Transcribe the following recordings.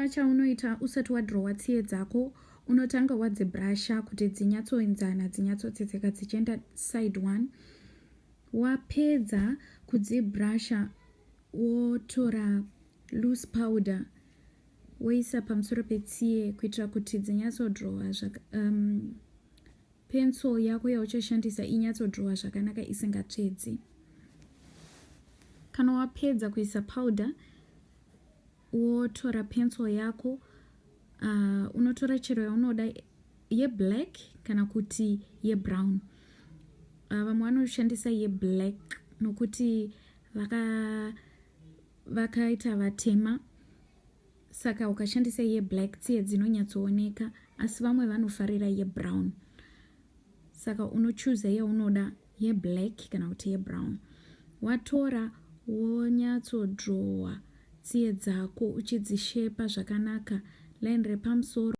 Chitanga chaunoita usati wadhirowa tsiye dzako unotanga wadzibrasha kuti dzinyatsoenzana dzinyatsotsetseka dzichienda side one wapedza kudzibrasha wotora loose powder woisa pamusoro petsiye kuitira kuti dzinyatsodhirowa um, pencil yako yauchashandisa inyatsodhirowa zvakanaka isingatsvedzi kana wapedza kuisa powder wotora pencil yako uh, unotora chero yaunoda yeblack kana kuti yebrown uh, vamwe vanoshandisa yeblack nokuti vaka vakaita vatema saka ukashandisa yeblack tsiye dzinonyatsooneka asi vamwe vanofarira yebrown saka unochuza yaunoda yeblack kana kuti yebrown watora wonyatsodrowa tsiye dzako uchidzishepa zvakanaka line repamusoro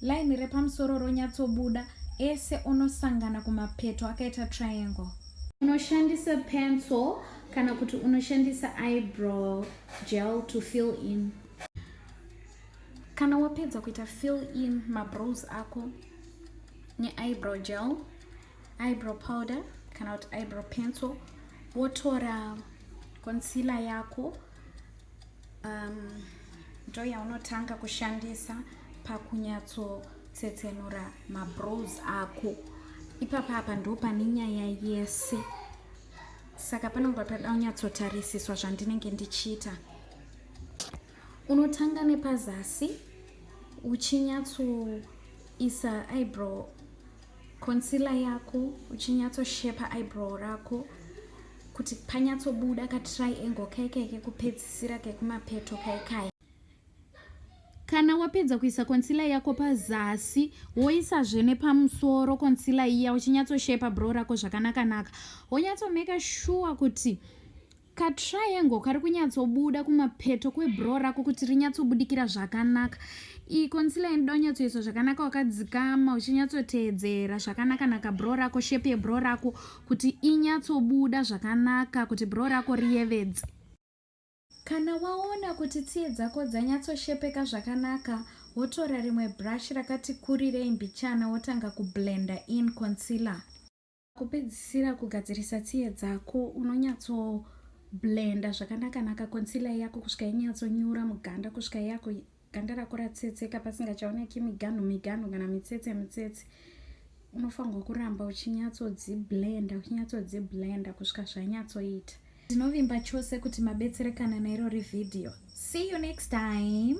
line repamusoro ronyatsobuda ese onosangana kumapeto akaita triangle unoshandisa pencil kana kuti unoshandisa eyebrow gel to fill in kana wapedza kuita fill in mabrows ako neeyebrow gel eyebrow powder kana kuti eyebrow pencil wotora concealer yako um, ndo yaunotanga kushandisa pakunyatsotsetsenura mabrows ako ipapa apa ndo pane nyaya yese saka panonga pada kunyatsotarisiswa zvandinenge ndichiita unotanga nepazasi uchinyatsoisa eyebrow concealer yako uchinyatsoshepa eyebrow rako kuti panyatsobuda katriangle kai kai kekupedzisira kekumapeto kai kai kana wapedza kuisa konsila yako pazasi woisazve nepamusoro konsila iya uchinyatsoshepa bro rako zvakanakanaka wonyatsomeka shuwa kuti Ka triangle kari kunyatsobuda kumapeto kwebro rako kuti rinyatsobudikira zvakanaka. Iyi concealer inoda unyatsoiswa zvakanaka wakadzikama uchinyatsoteedzera zvakanaka naka bro rako shape yebro rako kuti inyatsobuda zvakanaka kuti bro rako riyevedze. Kana waona kuti tsiye dzako dzanyatsoshepeka zvakanaka, wotora rimwe brush rakati kurirei mbichana wotanga kublender in concealer. Kupedzisira kugadzirisa tsiye dzako unonyatso blenda zvakanakanaka concealer yako kusvika inyatsonyura muganda kusvika yako ganda rako ratsetseka pasingachaoneki miganhu miganhu kana mitsetse mitsetse unofanirwa kuramba uchinyatsodziblenda uchinyatsodziblenda kusvika zvanyatsoita ndinovimba chose kuti mabetserekana nairori vhidhiyo see you next time